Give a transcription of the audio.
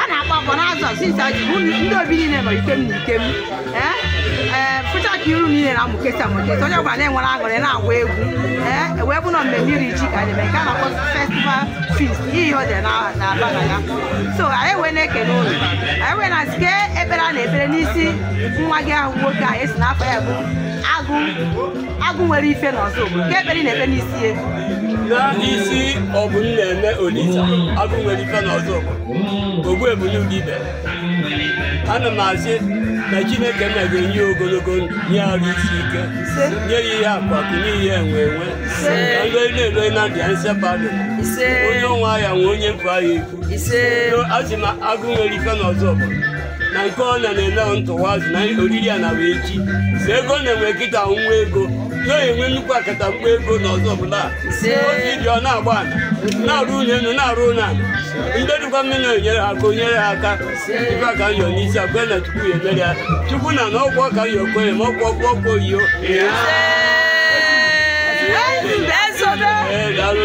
a na-akpọ akpọ n'azụ a since aji bụ ndị obi niile nọ ike m na ike m ee ee fụcha ka iru niile na-amụkesa amụkesa onye ọbụla na-enwere aṅụrị na-agba egwu ee ewee bụ na mmemme iri ji ka anyị mee nke a na-akpọ festival feast ihe ọ dị na- na-aba na ya so anyị wee na-ekele ụlọ anyị wee na-asị ka ekpere a na-ekpere n'isi nwa gị ahụ nwoke a esi n'afọ ya bụ agụ agụ nwere ife n'ọzọ obodo nke ekpere na-ekpe n'isi ya n'isi ọ bụ nna eme olisa agụ nwere ife n'ọzọ obodo ogbu ebulu ụdị ibe ana m asị na chineke nna ga-enye ogologo ndụ nye arụ isi ike nye ya ihe akụ akụ nye ihe enwe enwe ka ndị na-elo na ndịa nsepado onye ọnwa ya nwe onye mkpa ya ekwu asị m agụ nwere ife n'ọzọ obodo na nke ọ na na-ele ntụwazi na oriri a na bụ echi si ego na-enwe nkịta nwa ego na enwe nnukwu akata mgba ego n'ụzọ ọbụla ozi dị ọ na-agba ala na-arụ ụlọ elu na-arụ ụlọ ala ndị dịkwa mmiri na-enyere ha aka onyere ha aka ife aka nyọ n'isi akwe na chukwu ya emere ya chukwu nna na ọgwụ ọka ya okwe ma ọgwụ ọgwụ ọkwa oyiyo ee daalụ